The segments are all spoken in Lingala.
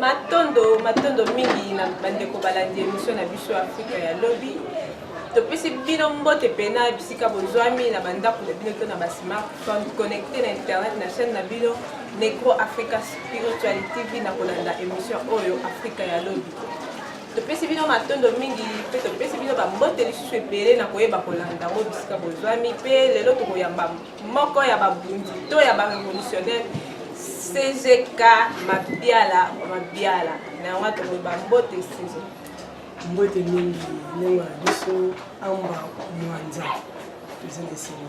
matondo matondo mingi na bandeko balandi emission na biso ya afrika ya lobi topesi bino mbote pena bisika bozwami na bandako na bino to na basmartphone connecte na internet na chaîne na bino negro africa spirituali tv na kolanda émission oyo afrika ya lobi topesi bino matondo mingi mpe topesi bino bambote lisusu ebele na koyeba kolanda yango bisika bozwami mpe lelo tokoyamba moko ya babundi to ya barevolutionnaire cgk mabiala mabiala na yango atomoi bambote sizo mbote mingi ndenge na biso amba mwanza toza na esili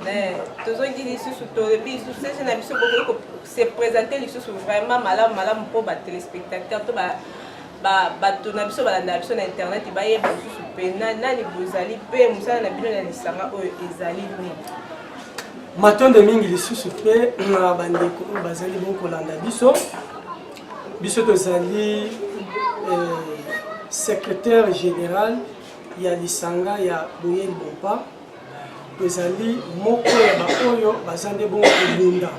eh, tozongi lisusu tolobi lisusu sese na biso bokoki se présente lisusu vraiment malamu malamu mpo batelespectateur to ba bato na biso balandaka biso na internet bayeba lisusu mpe nani bozali mpe mosala na bino na lisanga oyo ezali nini matondo mingi lisusu mpe na bandeko oyo bazali bongo kolanda biso biso tozali eh, secrétaire général ya lisanga ya boyeli bompa ezali moko ya baoyo baza nde bongo kobunda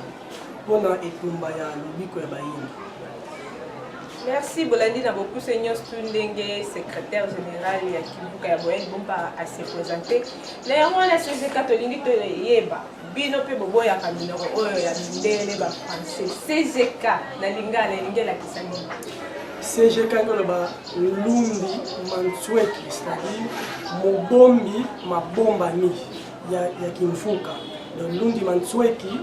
mpo na etumba ya lobiko ya bayini merci bolandi na bokuse nyonso tu ndenge secrétaire général ya kibuka ya boyel bompa ase présente na yango wana sezeka tolingi toyeba bino mpe boboyaka minoko oyo ya mindele bafrançais cgk na lingala elingi elakisa nini cgk ekoloba Lumbi Mansueki, c'est-à-dire mobombi mabombami ya, ya Kimfuka. Donc Lumbi Mansueki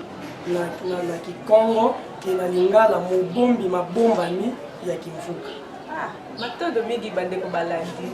na, na, na Kikongo ke na Lingala mobombi mabombami ya Kimfuka. Ah, matondo mingi bandeko balandi.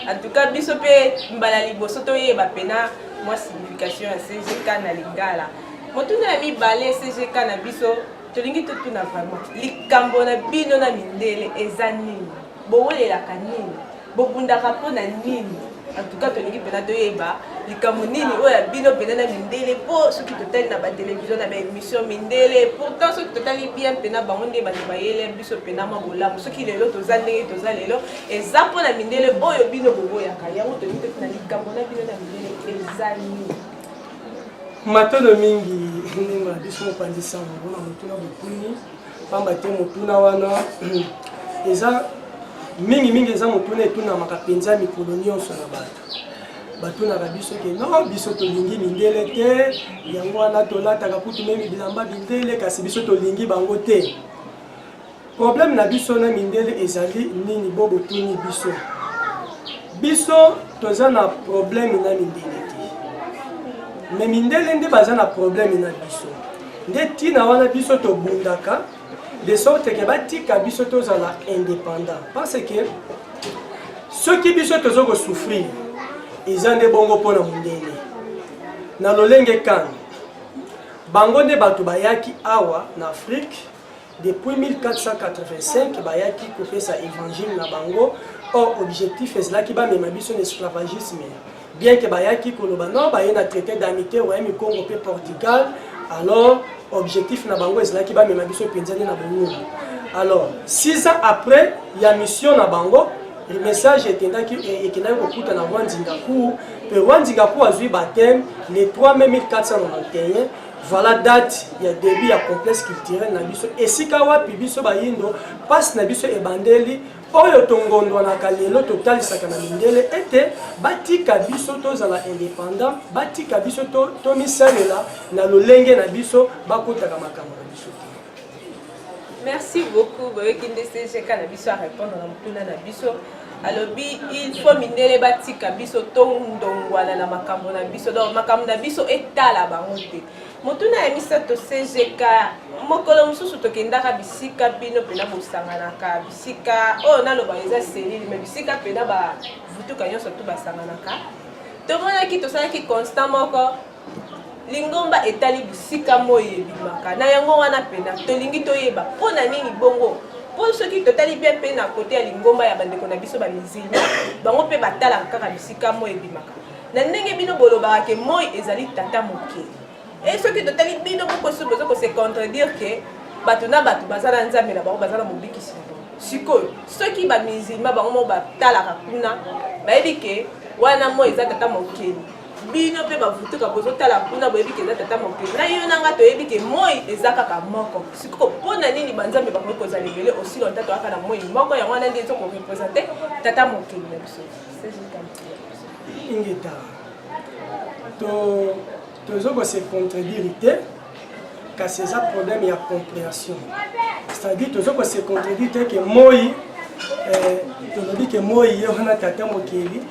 En tout cas biso mpe mbala liboso toyeba mpena mwa signification ya CGK na Lingala. Motuna ya mibale CGK na biso tolingi totuna vraiment likambo na bino na mindele eza nini bowelelaka nini bobundaka mpo na nini antuka tolingi mpena toyeba likambo nini oyo ya bino mpena na mindele mpo soki totali na batelevizio na baémission mindele pourtant soki totali bien mpena bango nde bato bayele biso mpena mwa bolamu soki lelo toza ndenge toza lelo eza mpo na mindele oyo bino boboyaka yango tolingi totuna likambo na bino na mindele eza nini matono mingi ndenge na biso mopanzi sango mpona motuna bokuni mpamba te motuna wana eza mingimingi eza motuna etunamaka mpenza mikolo nyonso na bato batunaka biso ke no biso tolingi mindele te yango wana tolataka kutu memi bilamba bindele kasi biso tolingi bango te Problème na biso na mindele ezali nini bo botuni biso? Biso toza na problème na mindele te. Mais mindele nde baza na problème na biso. Nde tina wana biso tobundaka de sorte que batika biso tozala indépendant parce que soki biso tozo ko souffrir eza nde bongo mpo na mondele na lolenge kani bango nde bato bayaki awa na afrique Depuis 1485 bayaki kopesa évangile na bango or objectif ezalaki bamema biso na esclavagisme bien que bayaki koloba non baye na traité d'amitié royaume congo mpe portugal alors objectif na bango ezalaki bamema biso mpenza nde na bolulu alors 6 ans après ya mission na bango le message ekendaki ekendaki kokuta na rwanzingakour mpe rwanzingakour azwi bateme le 3 mai 1491 Voilà date ya début ya complexe culturel na biso esika wapi biso bayindo mpasi na biso ebandeli oyo tongondwanaka lelo totalisaka na mindele ete batika biso tozala indépendant batika biso tomisalela na lolenge na biso bakotaka makambo na biso te Merci beaucoup boyoki nde CGK na biso a répondre na motuna na biso alobi il faut mindele batika biso tondongwana na makambo na biso donc makambo na biso etala bango te motuna ya misato cgk mokolo mosusu tokendaka bisika bino mpena bosanganaka bisika oyo oh, naloba eza selile me bisika mpena bavutuka nyonso to basanganaka tomonaki tosalaki constant moko lingomba etali bisika moi ebimaka na yango wana mpena tolingi toyeba mpo na nini bongo mpo soki totali bien mpe na kote ya lingomba ya bandeko na biso bamizilma bango mpe batalaka kaka bisika moi ebimaka na ndenge bino bolobaka ke moi ezali tata moke e soki totali bino bokosu boza kose contredire ke bato na bato baza na nzambe na bango baza na mobikisi na bango sikoyo soki bamizilma bango moko batalaka kuna bayebi ke wana moi eza tata mokeli bino mpe bavutuka bozotala kuna boyebi ke eza tata mokili na yo na nga toyebi ke moi eza kaka moko sikoyo mpo na nini banzambe bakoki kozala ebele osi lonta toyaka na moi moko yango wana nde ezokorepresente tata mokili na biso ingeta tozo kose contredire te kasi eza problème ya comprehension c'est-à-dire toza ko se contredire te ke moi eh, tolobi ke moi ye wana tata mokeli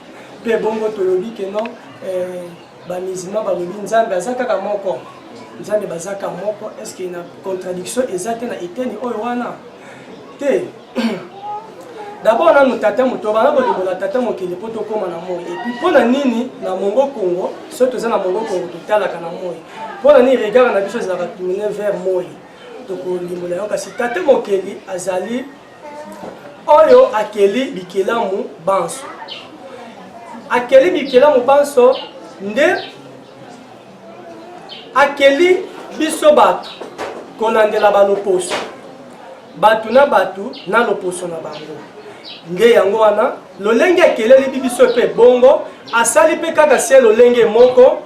mpe bongo tolobi ke non eh, bamizima balobi nzambe aza kaka moko nzambe bazaka moko est ce que na contradiction eza te na eteni oyo wana te dabord nanu tata moto bana kolimbola tata mokili mpo tokóma na moi epuis mpo na nini na mongo kongo soki toza na mongo kongo totalaka na moi mpo na nini regard na biso ezalaka tourne vers moi tokolimbola yango kasi tata mokeli azali oyo akeli bikelamu banso akeli bikelamu banso nde akeli biso bato kolandela baloposo bato na bato na loposo na bango nde yango wana lolenge akeleli bibiso mpe bongo asali mpe kaka se lolenge moko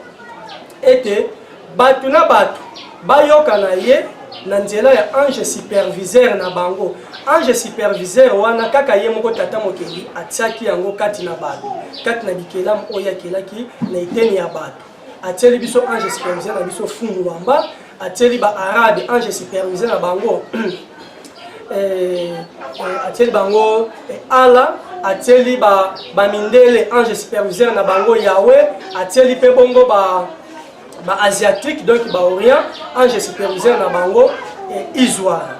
ete bato na bato bayoka na ye na nzela ya ange superviseur na bango ange superviseur wana kaka ye moko tata mokeli atiaki yango kati na bato kati na bikelamu oyo akelaki na eteni ya bato atieli biso ange superviseur na biso fungu wamba atieli ba arabe ange superviseur na bango eh, eh, atieli bango eh, ala atieli ba bamindele ange superviseur na bango yawe atieli mpe bongo ba ba asiatique donc ba orient ange superviseur na bango eh, isoire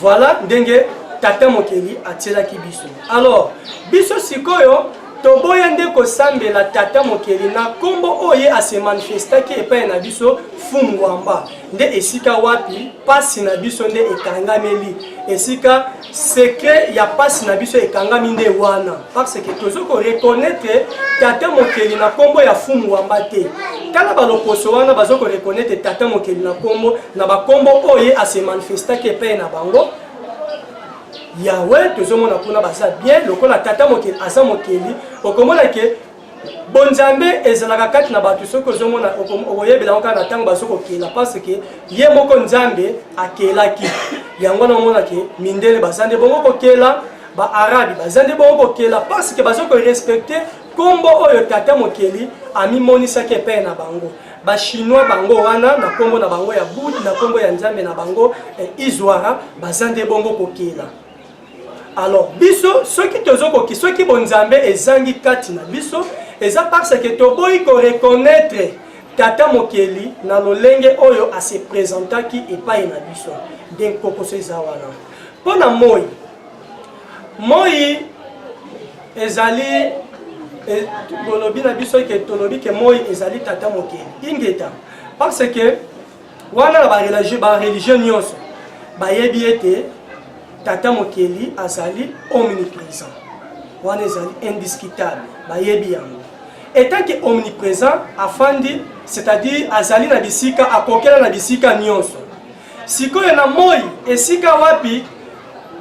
voilà ndenge tata mokeli atielaki biso alors biso sikoyo Toboya nde kosambela tata mokeli na nkombo oyo ye asemanifestaki epai na biso fungwamba nde esika wapi mpasi na biso nde ekangameli esika sekre ya mpasi na biso ekangami nde wana parce que tozo koreconnaitre tata mokeli na nkombo ya fungwamba te tala balokoso wana bazo koreconnaitre tata mokeli na nkombo na bankombo oyo ye asemanifestaki epai na bango yawe tozomona kuna baza bien lokola tata mokeli aza mokeli okomona ke bonzambe ezalaka kati na bato soki ozomona okoyebela yango kaka na ntango bazo kokela parce ke ye moko nzambe akelaki yango wana omona ke mindele baza nde bongo kokela baarabi baza nde bongo kokela parce ke bazo korespecte nkombo oyo tata mokeli amimonisaki epai na bango ba chinois bango wana na kombo na bango ya bud na kombo ya nzambe na bango eh, izwara baza nde bongo kokela alors biso soki tozokoki soki bonzambe ezangi kati na biso eza parce que toboyi koreconnaitre tata mokeli na lolenge oyo asepresentaki epai na biso nde nkokoso eza wana mpo na moi Moi ezali e, bolobi na biso ke tolobi ke moi ezali tata mokeli ingeta parce que wana na bareligion nyonso bayebi ete tata mokeli azali omniprésent wana ezali indiscutable bayebi yango etant ke omniprésent afandi c'est-à-dire azali na bisika akokela na bisika nyonso Sikoyo na moi esika wapi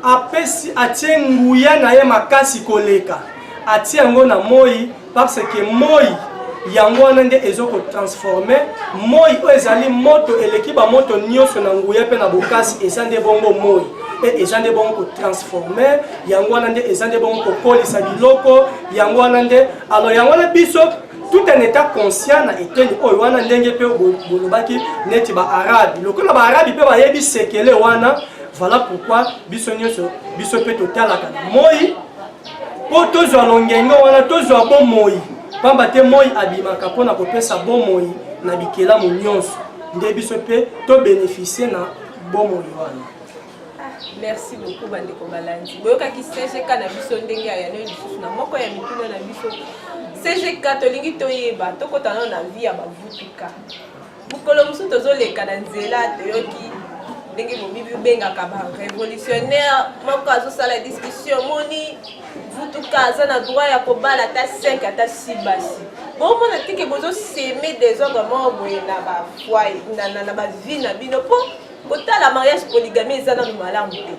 apesi atie nguya na ye makasi koleka atie yango na moi parce que moi yango wana nde ezokotransforme moi oyo ezali moto eleki bamoto nyonso na nguya mpe na bokasi eza nde bongo moi e eza nde bongo kotransforme yango wana nde eza nde bongo kokolisa biloko yango wana nde alors yango wana biso tout en état conscient na eteni oyo wana ndenge mpe bolobaki neti baarabi lokola baarabi mpe bayebi sekele wana voilà pourquoi biso nyonso biso mpe totalaka na moi mpo tozwa longenge wana tozwa bomoi mpamba te moi abimaka mpo na kopesa bomoi na bikelamu nyonso nde biso mpe tobenefisie na bomoi wana merci beaucoup bandeko balandi boyokaki cgk na biso ndenge ya yano lisusu na moko ya mituna na biso cgk tolingi toyeba tokota nano na vie ya bavutuka mokolo mosusu tozoleka na nzela toyoki ndenge bobibi obengaka barevolutionnaire moko azosala discussion omoni vutuka aza na droit ya kobala ata 5 ata 6 basi bomona tike bozoseme desordre moko boye na bafwai na bavie na bino mpo kotala mariage polygamie eza nano malamu te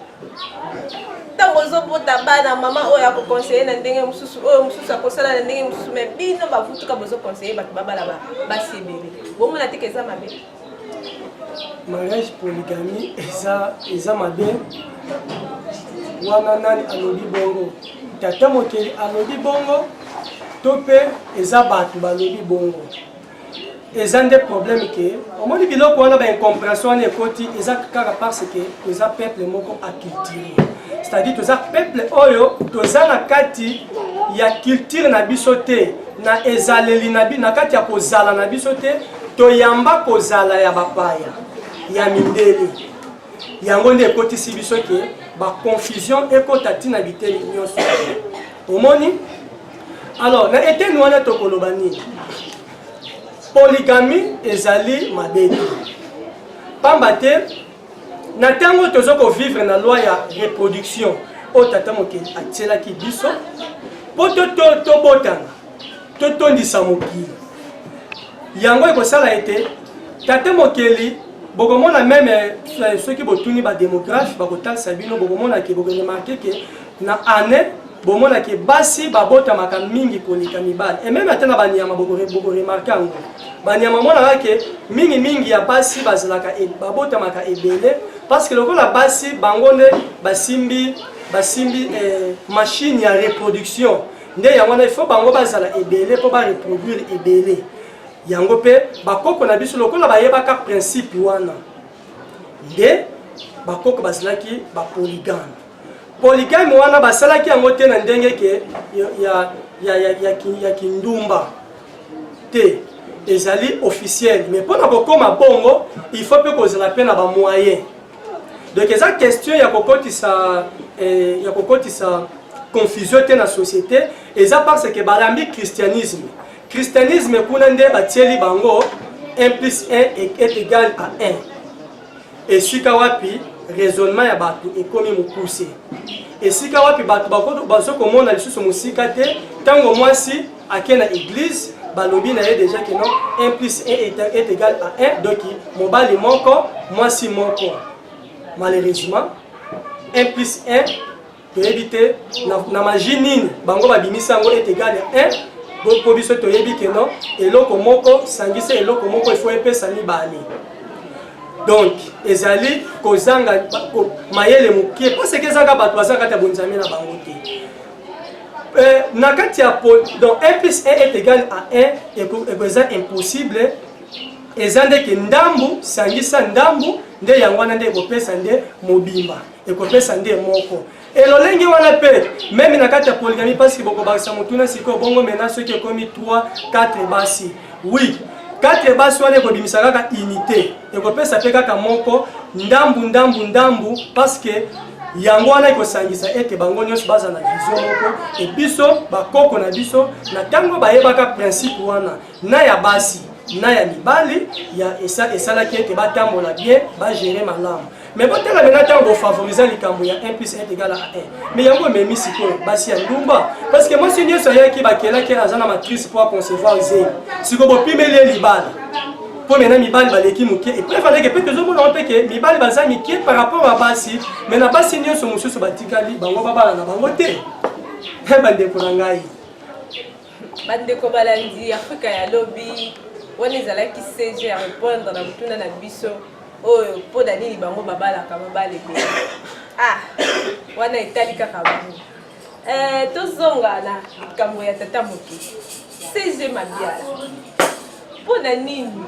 ntango ozobota bana mama oyo akokonseye na ndenge mosusu oyo mosusu akosala na ndenge mosusu me bino bavutuka bozokonseye bato babala basi ebele bomona teke eza mabe mariage polygamie eza, eza mabe wana nani alobi bongo tata mokeli alobi bongo to mpe eza bato balobi bongo eza nde problème ke omoni biloko wana baincompréhension wana ekoti eza kaka parce ke toza peuple moko aculture c'est-à-dire toza peuple oyo toza na kati ya culture na biso te na ezaleli na, na kati ya kozala na biso te toyamba kozala ya bapaya ya mindele yango nde ekotisi biso ke baconfusion ekota ntina biteni nyonso omoni Alors, na eteni wana tokoloba nini? Polygamie ezali mabe te. Pamba te na ntango tozo ko vivre na loi ya reproduction oyo tata mokeli atielaki biso mpo tobotana totondisa mokili yango ekosala ete tata mokeli bokomona meme eh, soki botuni bademographe bakotalisa bino bokomona ke bokoremarke ke na année bomona ke basi babotamaka mingi koleka mibali et meme ata na banyama bokoremarke yango banyama omonaka ke mingi mingi ya basi bazalaka e, babotamaka ebele parce que lokola basi bango nde basimbi basimbi eh, machine ya reproduction nde yango wana ifo bango bazala ebele mpo bareproduire ebele yango mpe bakoko na biso lokola bayebaka principe wana nde bakoko bazalaki bapoligame Polygame wana basalaki yango te na ndenge ke ya, ya, ya, ya, ya, ya kindumba te ezali officiel mais mpo na kokoma bongo il faut mpe kozala mpe na bamoyen donc eza question ya kokotisa eh, ya kokotisa confusion te na société eza parce que balambi christianisme christianisme kuna nde batieli bango 1 plus 1 est égal à 1 esika wapi raisonnement ya bato ekomi mokuse esika wapi bato bazo komona lisusu mosika te ntango mwasi ake na eglise balobi na ye deja keno 1 plus 1 est égal à 1 donc mobali moko mwasi moko malheureusement 1 plus 1 toyebi te na magie nini bango babimisi yango est égal ya 1 mpo biso toyebi ke non eloko moko sangisa eloko moko efo epesa mibale donc ezali kozanga mayele mokie paseke ezaka bato baza kati ya bonzambe na bango te euh, na kati ya donc 1 plus 1 est égal à 1 eza impossible eza ndeke ndambu sangisa ndambu nde yango wana nde ekopesa nde mobimba ekopesa nde moko elolenge wana mpe meme na kati ya poligami mpasi bokobakisa motuna sikoyo bongo mena soki ekomi 3 4 basi wi 4 basi wana ekobimisa kaka unité ekopesa mpe kaka moko ndambu ndambu ndambu parceke yango wana ekosangisa ete bango nyonso baza na vision moko ebiso bakoko na biso na ntango bayebaka principe wana na ya basi na ya mibali ya esa esalaki ete batambola bien bagere malamu mais botala mena ntango bofavoriza likambo ya 1 plus 1 egala 1 mais yango ememi sikoyo basi ya ndumba parce que mwasi nyonso ayaki bakelaki aza na matrice mpo aconcevoir zemi sikoyo bopimeli ye libala mpo mena mibali baleki moke epreuve aleke mpe tozomona ngo mpe ke mibali baza mike par rapport ya basi mais na basi nyonso mosusu batikali bango babala na bango te bandeko na ngai Bandeko balandi Afrika ya lobi, wana ezalaki CG ya repondre na motuna na biso oyo mpo na nini bango babalaka mobali ebele. Ah, wana etali kaka bango. Eh, tozonga na likambo ya tata moke CG Mabiala. Mpo na nini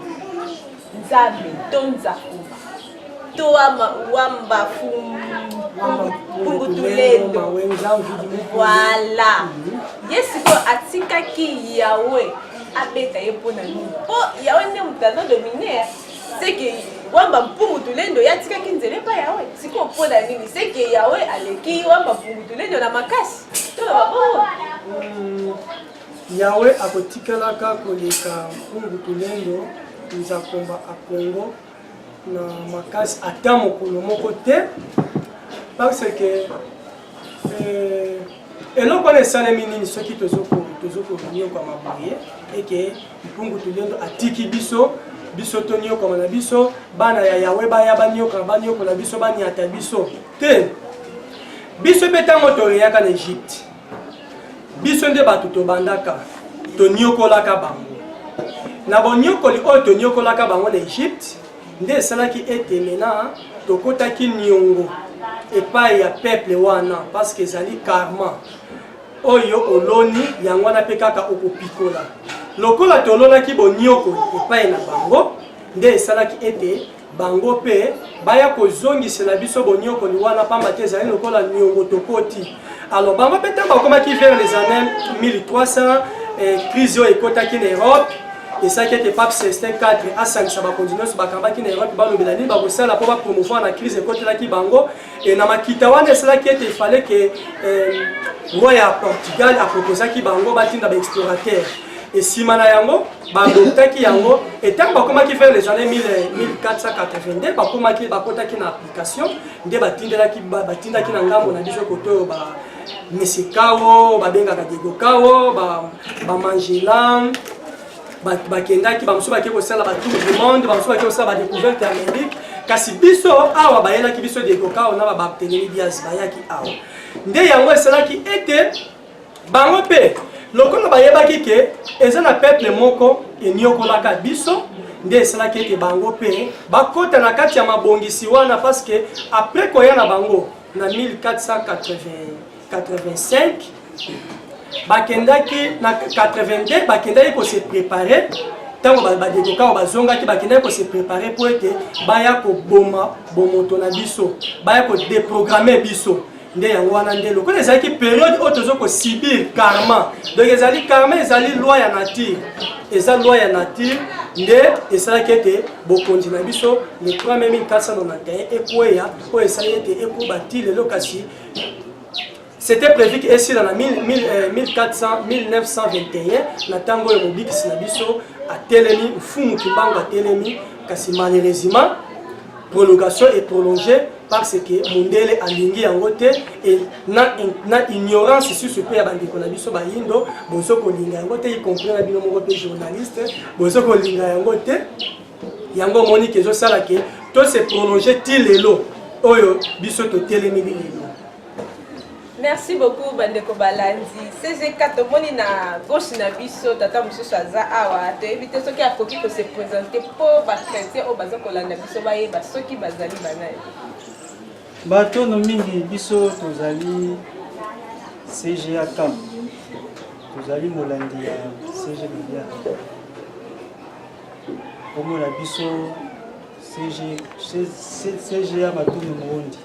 Nzambe to Nzakuba to wamba fungutulendo voilà mhm. ye sikoyo atikaki yawe abeta ye mpo na nini mpo yawe nde moto azo domine seke wamba mpungu tulendo ye atikaki nzela epai yawe sikoyo mpo na nini seke yawe aleki wamba mpungu tulendo na makasi to na babongo Yawe akotikalaka koleka mpungu tulendo nzakomba a Congo na makasi ata mokolo moko te parce que euh, eloko wana esalemi nini soki tozokonyokwama boye eke mpungu tulendo atiki biso biso tonyokama na biso bana ya yawe baya banyokama banyokola biso banyata biso te biso mpe ntango toreyaka na egypte biso nde bato tobandaka tonyokolaka bango na bonyokoli oyo tonyokolaka bango na egypte nde esalaki ete mena tokotaki niongo epai ya peuple wana parce que ezali karma oyo oloni yango wana mpe kaka okopikola lokola tolonaki bonyokoli epai na bango nde esalaki ete bango mpe baya kozongisela biso bonyokoli wana mpamba te ezali lokola niongo tokoti alors bango mpe ntango bakomaki vers les années 1300 eh, crise oyo ekotaki na europe esalaki ete pape celestin 4 asangisa bakonzi nyonso bakambaki na europe balobela nini bakosala mpo bapromouvoir na crise ekotelaki bango Et na makita wana esalaki ete ifale ke euh, roi ya portugal aproposaki bango batinda baexplorateur nsima na yango badoptaki yango etango bakomaki vers les années 1482 bakomaki bakotaki na application nde batindelaki batindaki na ngambo na biso koto oyo ba mesikawo babengaka diego kawo bamangela ba bakendaki bamosusu bakei kosala batour du monde bamosusu bakei kosala badecouverte ya amerique kasi biso awa bayelaki biso dekokao na babartelemi bias bayaki awa nde yango esalaki ete bango mpe lokola bayebaki ke eza na peuple moko eniokolaka biso nde esalaki ete bango mpe bakota na kati ya mabongisi wana parce que après koya na bango na 1480 85 bakendaki na 82 bakendaki kose prepare ntango badekokao bazongaki bakendaki kose prepare mpo ete baya koboma bomoto na biso baya kodeprograme biso nde yango wana nde lokola ezalaki periode oyo tozo kosibir karma donc ezali karma ezali loi ya nature eza loi ya nature nde esalaki ete bokonzi na biso le 3 mai 1491 ekweya oyo esali ete ekoba ti lelo kasi c'était prévu que esila na 1400 1921 euh, na ntango oyo mobikisi na biso atelemi mfumu kimbangu atelemi kasi malheureusement prolongation est prolongée parce que mundele alingi yango te et na, na ignorance susu mpe ya bandeko na biso bayindo bozo kolinga yango te y compris na bino moko mpe journaliste bozo kolinga yango te yango omoni ke ezosala ke to se prolonge ti lelo oyo biso totelemeli lelo merci beaucoup bandeko balandi cgk tomoni na gauche na biso tata mosusu aza awa toyebi te soki akoki kose présente mpo bachrétien oyo baza kolanda biso bayeba soki bazali banani batono mingi biso tozali cga camp tozali molandi ya cgbilia Kombo na biso CGA Matondo Moondi.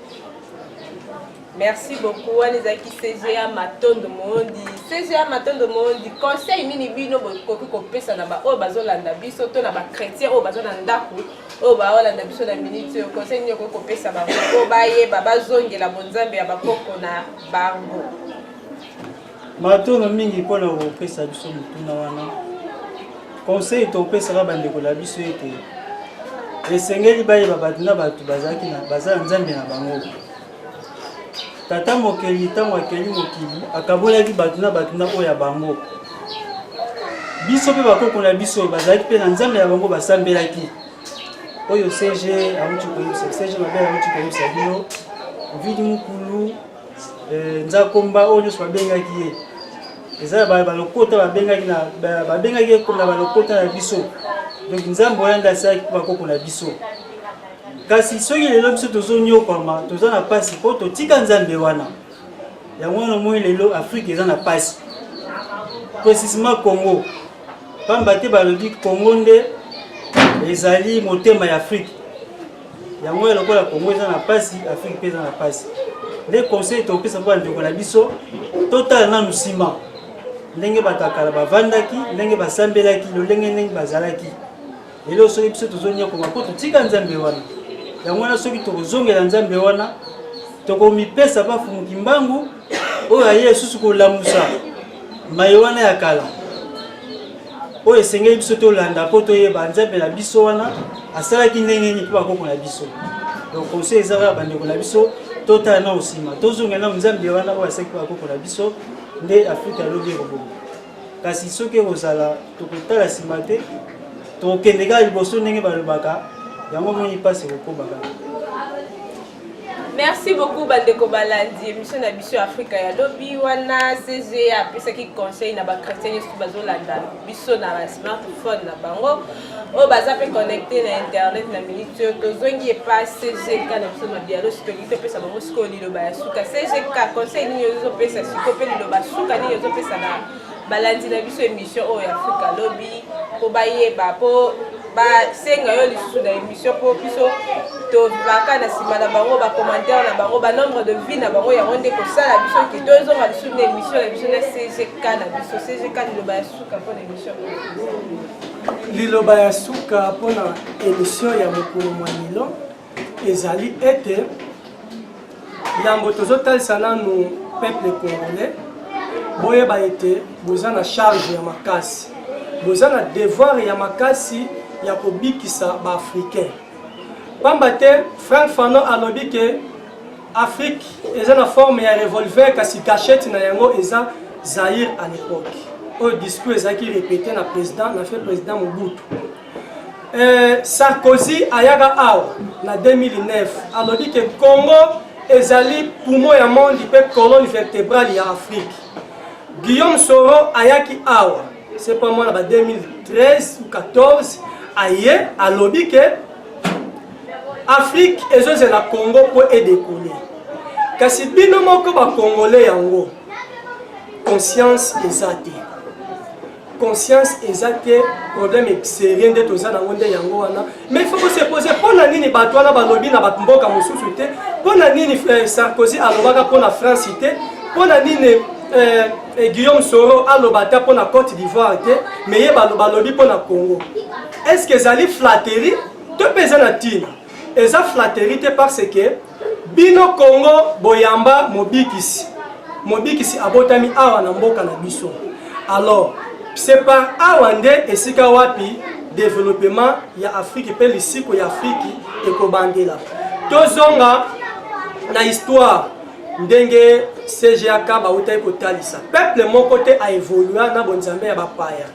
Merci beaucoup wana ezalaki CGA Matondo Moondi. CGA Matondo Moondi, conseil nini bino bokoki kopesa na baoyo bazolanda biso to na bachrétien oyo baza na ndako oyo baolanda biso na minute oyo conseil nini okoki kopesa bango oyo bayeba bazongela bonzambe ya bakoko na bango Matono mingi mpo na kopesa biso motuna wana. Conseil topesaka bandeko na biso ete esengeli bayeba bato na bato bazalaki na baza na nzambe na bango tata mokeli ntango akeli mokili akabolaki bato na bato na oyo ya bango biso mpe bakoko na biso bazalaki mpe na nzambe na bango basambelaki oyo cg auti koyebisa cg mabele auti koyebisa bino vidi mokulu Eh, nzakomba oyo nyonso babengaki ye eza balokota babengaki babengaki ye na balokota na biso donc nzambe oyo nde asalaki mpo bakoko na biso kasi soki lelo biso tozonyokwama toza na mpasi mpo totika nzambe wana yango wana omoni lelo afrike eza na mpasi precisement congo mpamba te balobi congo nde ezali motema ya afrike yango ya lokola congo eza na mpasi afrique mpe eza na mpasi nde conseil tokopesa mpo bandeko na biso totala nanu nsima ndenge bato ya kala bavandaki ndenge basambelaki lolenge ndenge bazalaki lelo soki biso tozonyakoma mpo totika nzambe wana yango wana soki tokozongela nzambe wana tokomipesa bafumuki mbangu oyo aye lisusu kolamusa maye wana ya kala oyo esengeli biso tolanda mpo toyeba nzambe na biso wana asalaki ndenge nini mpo bakoko na biso donc conseil eza kaka bandeko na biso totala nao nsima tozonga nao nzambe wana oyo asalaki bakoko na biso nde afrika lobi ekobonga kasi soki ekozala tokotala nsima te tokokende kaka liboso ndenge balobaka yango moni mpasi ekokobaka Merci beaucoup bandeko balandi emission na biso ya Afrika ya lobi wana CG apesaki conseil na ba chrétiens nyonso bazolanda biso na ba smartphone na bango oyo baza mpe connecte na internet na minute oyo tozongi epa CGK na biso na dialo sitoki topesa bango sikoyo liloba ya suka CGK conseil nini ozopesa sikoyo mpe liloba suka nini ozopesa na balandi na biso emission oyo ya afrika lobi mpo bayeba mpo basenga yo lisusu na émission mpo biso tobaka na nsima na bango bacommentaire na bango banombre de vie na bango yango nde kosala biso ke tozonga lisusu na émission na biso na cgk na biso cgk liloba ya suka mpo na émission liloba ya suka mpo na émission ya mokolo mwa lelo ezali ete yambo tozotalisa nanu peuple congolais boyeba ete boza na charge ya makasi boza na devoir ya makasi ya kobikisa baafricain pamba te frank fanon alobi ke afrique eza na forme ya revolver kasi cachette na yango eza zaire à l'époque oyo discours ezalaki repete na président na fe président mobutu Euh, Sarkozy ayaka awa na 2009 alobi ke Congo ezali poumon ya monde mpe colonne vertébrale ya Afrique. Guillaume Soro ayaki awa c'est pas moi na ba 2013 ou 14 aye alobi ke Afrique ezozela Congo mpo edekole kasi bino moko bakongole yango conscience eza te conscience eza te problème serie nde toza nango nde yango wana mais faut se pose mpo na nini bato wana balobi na bato mboka mosusu te mpo na nini eh, sarkozy alobaka mpo na france te mpo na nini eh, eh, guillaume soro aloba ata mpo na cote d'ivoire te mais ye balobi mpo na congo est ce que ezali flatterie to mpe eza na ntina eza flatterie te parce que bino congo boyamba mobikisi mobikisi abotami awa na mboka na biso alors c'est par awa nde esika wapi développement ya afrique mpe lisiko ya afrique ekobandela tozonga na histoire ndenge cgak bautaki kotalisa peuple moko te aevolua na bonzambe ya bapaya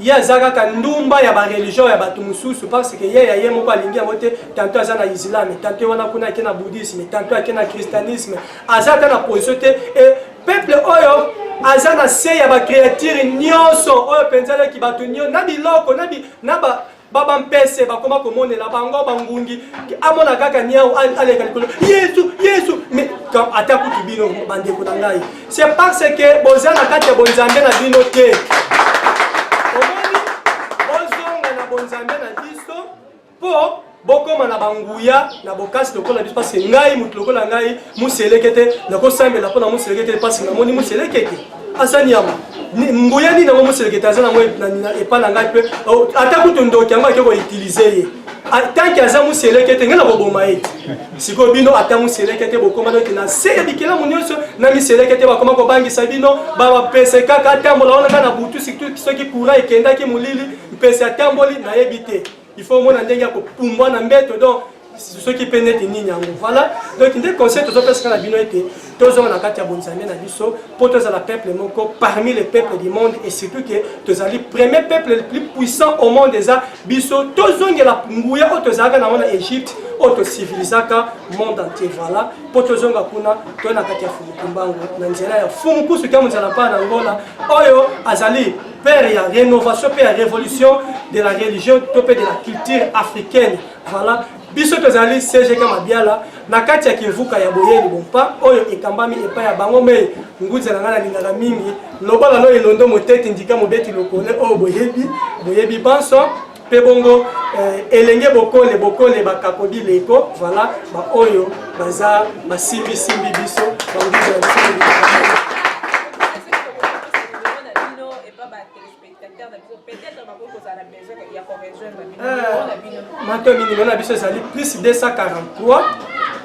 ye aza kaka ndumba ya bareligion ya bato mosusu parce que ye ya ye moko alingi yango te tanto aza na islame tanto wana kuna ake na bouddhisme tanto ake na christianisme aza ata na position te e peuple oyo aza na se ya bacreature nyonso oyo mpenza alaki bato nyonso na biloko na, bi, na ba ba bampese bakoma komonela bango bangungi amona kaka niau aleka likolo yesu yesu mais ata kutu bino bandeko na ngai c'est parce que boza na kati ya bonzambe na bino te omoni bozonga na bonzambe na biso mpo bokoma na banguya na bokasi lokola biso mpasi ngai moto lokola ngai moseleke te nakosambela mpo na moseleke te mpasi namoni moseleke te aza nyama nguya nini yango moselekete aza nango epa na ngai mpe oh, ata kutu ndoki yango ake koutilize ye tanke aza moselekete ngai na koboma ye te sikoyo bino ata moselekete bokoma noki na se ya bikelamu nyonso na miselekete bakoma kobangisa bino bapese kaka atambola wana kaka na butu soki kura ekendaki molili mpese atamboli nayebi te il faut omona ndenge ya kopumbwa na mbeto donc soki mpe neti nini yango voilà donc nde conseil tozopesaka na bino ete tozonga na kati ya bonzambe na biso mpo tozala peuple moko parmi les peuples du monde et surtout ke tozali premier peuple le plus puissant au monde eza biso tozongela nguya oyo tozalaka nango na egypte oyo tocivilisaka monde entier voilà mpo tozonga kuna toye na kati ya fumu kimbangu na nzela ya fumu kusu kya mozala mpa na ngola oyo azali père ya rénovation mpe ya révolution de la religion to mpe de la culture africaine voilà biso tozali cgk mabiala na kati ya kivuka ya boyeli bompa oyo ekambami epai ya bango mei nguza na ngai nalingaka mingi lobalano elondo moteti ndika mobeti lokole oyo boyebi boyebi banso mpe bongo eh, elenge bokole bokole bakakodi leko voilà baoyo baza basimbisimbi biso banguza ya biso mato minimum na biso ezali plus 243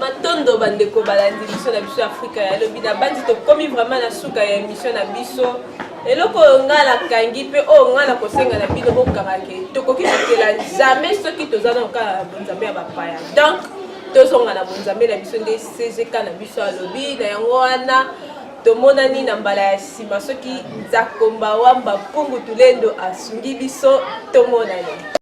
matondo bandeko balandi biso na biso ya afrika ya lobi na banzi tokomi vraiment na suka ya émission na biso eloko oyo ngai nakangi mpe oyo ngai nakosenga na bino bokanga ke tokoki kokela jamais soki toza na kokala na bonzambe ya bapaya donc tozonga na bonzambe na biso nde cgk na biso alobi na yango wana tomonani na mbala ya nsima soki nzakomba wamba mpungu tulendo asungi biso tomonani